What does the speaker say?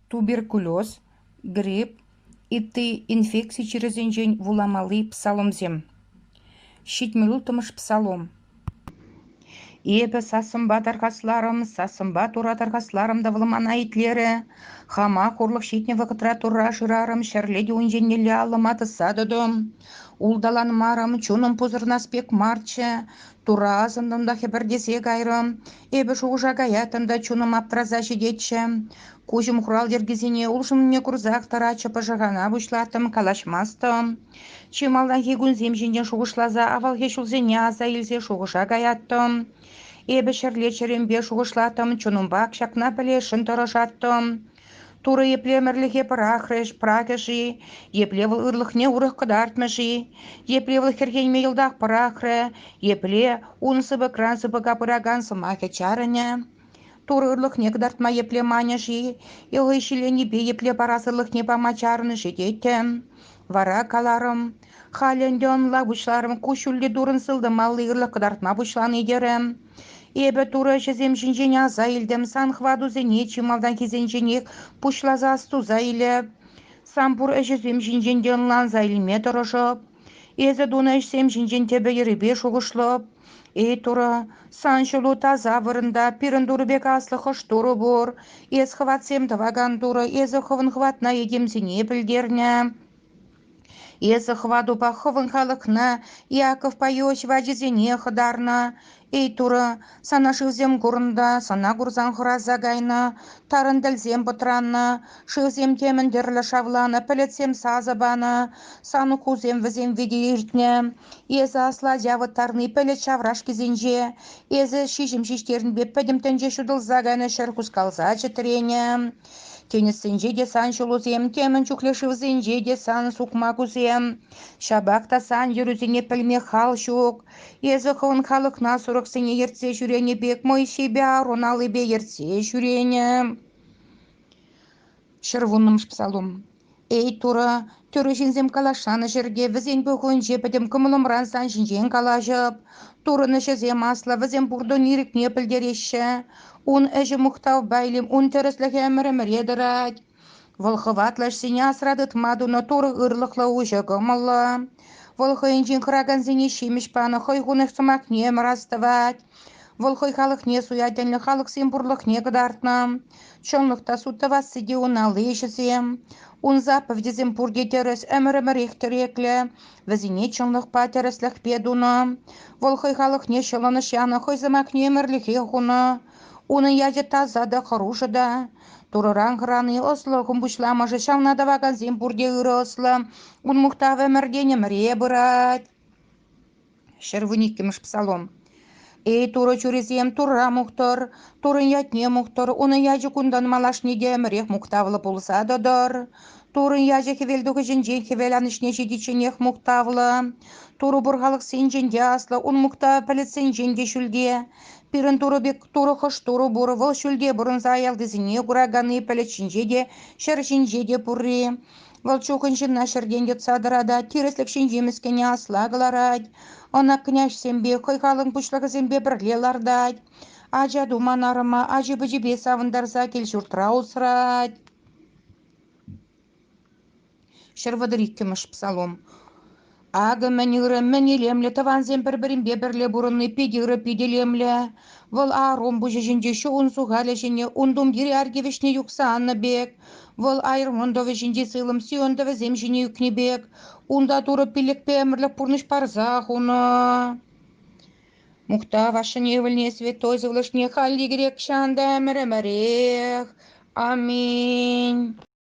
туберкулез, грипп, ытти инфекци чирӗсенчен вуламалли псаломсем. Ҫитмӗл улттӑмӗш псалом. Эпӗ сассӑмпа тархасларӑм, сассӑмпа тура тархасларӑм та вӑлмана итлерӗ. Хама хурлӑх ҫитнӗ вӑхӑтра турра шырарӑм, ҫӗрле те ун еннелле аллӑма тӑсса тӑтӑм. Улталанмарӑм, чунӑм пусӑрӑнас пек марччӗ. Тура асӑнтӑм та хӗпӗртесе кайрӑм. Эпӗ шухӑша каятӑм та чунӑм аптӑраса ҫитетчӗ. Куҫӑм хурал йӗркисене улшӑннине курсах тӑратчӗ, пӑшӑрхана пуҫлаттӑм, калаҫмастӑм. Чи малтанхи кунсем ҫинчен шухӑшласа авалхи ҫулсене аса илсе шухӑша каяттӑм. Эпӗ ҫӗрле чӗремпе шухӑшлаттӑм, чунӑмпах ҫакна пӗлесшӗн тӑрӑшаттӑм. Турӑ епле ӗмӗрлӗхе пӑрахрӗҫ, пӑрахӗ-ши, епле вӑл ырлӑхне урӑх кӑтартмӗ-ши, епле вӑл хӗрхенме йӑлтах пӑрахрӗ, епле ун сыпӑкран сыпӑка пыракан сӑмахӗ чарӑнӗ. Турӑ ырлӑхне кӑтартма епле манӗ-ши, е хӑй ҫилленипе епле парас ырлӑхне пама чарӑнӗ-ши тетӗн. Вара каларӑм, халӗ ӗнтӗ ӑнла пуҫларӑм куҫҫульлӗ турӑн сылтӑмалли ырлӑх кӑтартма пуҫлани терӗм. Эпӗ турӑ ӗҫӗсем ҫинчен аса илтӗм, сан хӑватусене чи малтанхисенченех пуҫласа астуса илӗ, сан пур ӗҫӗсем ҫинчен те ӑнланса илме тӑрӑшӑп. Эсӗ тунӑ ӗҫсем ҫинчен тӗпӗ-йӗрӗпе шухӑшлӑп. Эй Турӑ, сан ҫулу таса вырӑнта, пирӗн Турӑ пек аслӑ хӑш Турӑ пур. Эс хӑватсем тӑвакан Турӑ, эсӗ хӑвӑн хӑватна этемсене пӗлтернӗ. Эсӗ хӑватупа хӑвӑн халӑхна Иаковпа Иосиф ачисене хӑтарнӑ. Эй Турӑ, сана шывсем курӑннӑ, сана курсан хӑраса кайнӑ, тарӑнтӗлсем пӑтраннӑ, шывсем темӗн тӗрлӗ шавланӑ, пӗлӗтсем сасӑ панӑ, сануккусем вӗсем вите иртнӗ. Эсӗ асла ача ывӑттарни пӗлӗт ҫаврашкисенче. Эсӗ ҫиҫӗм ҫиҫтернипе пӗтӗм тӗнче ҫутӑлса кайнӑ ҫӗр хускалса чӗтренӗ. Тинӗссенче те сан ҫулусем, темӗн чухлӗ шывсенче те сан сукма кусем. Ҫапах та сан йӗрӳсене пӗлме хал ҫук. Эсӗ хӑвӑн халӑхна сурӑхсене ертсе ҫӳренӗ пек Моисейпе Аарон аллипе ертсе ҫӳренӗ. Ҫӗр вуннӑмӗш псалом Эй, Турӑ, тӳрӗ ҫынсем калаҫанӑ ҫӗрте вӗсен пухӑвӗнче пӗтӗм кӑмӑлӑмран сан ҫинчен калаҫӑп. Турӑн ӗҫӗсем аслӑ, вӗсем пуртӑн ирӗкне пӗлтереҫҫӗ. Ун ӗҫӗ мухтавпа илем, ун тӗрӗслӗхӗ ӗмӗр-ӗмӗре тӑрать. Вӑл хӑватлӑ ӗҫсене асра тытма тунӑ Турӑ ырлӑхлӑ, уҫӑ кӑмӑллӑ. Вӑл хӑйӗнчен хӑракансене ҫимӗҫ панӑ, хӑй хунӑ сӑмахне ӗмӗр астӑвать. Вӑл хӑй халӑхне суя тӗнлӗ халӑхсен пурлӑхне кӑтартнӑ. Чӑнлӑх та суд тӑвасси те ун алли ӗҫӗсем. Ун заповедьӗсем пурте тӗрӗс, ӗмӗр-ӗмӗрех тӗреклӗ. Вӗсене чӑнлӑхпа тӗрӗслӗхпе тунӑ. Вӑл хӑй халӑхне ҫӑлӑнӑҫ янӑ, хӑй сӑмахне ӗмӗрлӗхе хунӑ. Унӑн ячӗ таса та хӑрушӑ та. Турӑран хӑрани ӑслӑлӑхӑн пуҫламӑшӗ. Ҫавна тӑвакансем пурте ырӑ ӑслӑ. Ун мухтавӗ ӗмӗртен ӗмӗре пырать. Ҫӗр вун иккӗмӗш псалом. Эй, Турӑ чурисем, Турра мухтӑр, Туррӑн ятне мухтӑр, Унӑн ячӗ кунтан малашне те ӗмӗрех мухтавлӑ пулса тӑтӑр. Туррӑн ячӗ хӗвелтухӑҫӗнчен хӗвел анӑҫне ҫитичченех мухтавлӑ. Турӑ пур халӑхсенчен те аслӑ, Ун мухтавӗ пӗлӗтсенчен те ҫӳлте. Пирӗн Турӑ пек Турӑ хӑш Турӑ пур, Вӑл ҫӳлте пурӑнса аялтисене кураканни пӗлӗт ҫинче те, ҫӗр ҫинче те пурри. Вӑл чухӑн ҫынна ҫӗртен йӑтса тӑратать, тӗрӗслӗх ҫинчи мӗскӗне асла кӑларать, ӑна княҫсемпе, хӑй халӑн пуҫлӑхӗсемпе пӗрле лартать. Ача туман арӑма ачи-пӑчипе савӑнтарса кил-ҫуртра усрать. Ҫӗр вӑтӑр иккӗмӗш псалом. Акӑ мӗн ырӑ, мӗн илемлӗ тӑвансем пӗр-пӗринпе пӗрле пурӑнни питӗ ырӑ, питӗ илемлӗ. Вӑл Арум пуҫӗ ҫинче чун сухалӗ ҫине ун тумтирӗ арки вӗҫне юхса аннӑ пек, вӑл айӑрмӑн тӑвӗ ҫинчи сылӑм сионтӑвӗсем ҫине ӳкнӗ пек, унта Турӑ пиллӗкпе ӗмӗрлӗх пурнӑҫ парса хунӑ. Мухтав ашшӗне, ывӑлне, святой сывлӑшне халь егерек ҫан та ӗмӗр-ӗмӗрех. Аминь.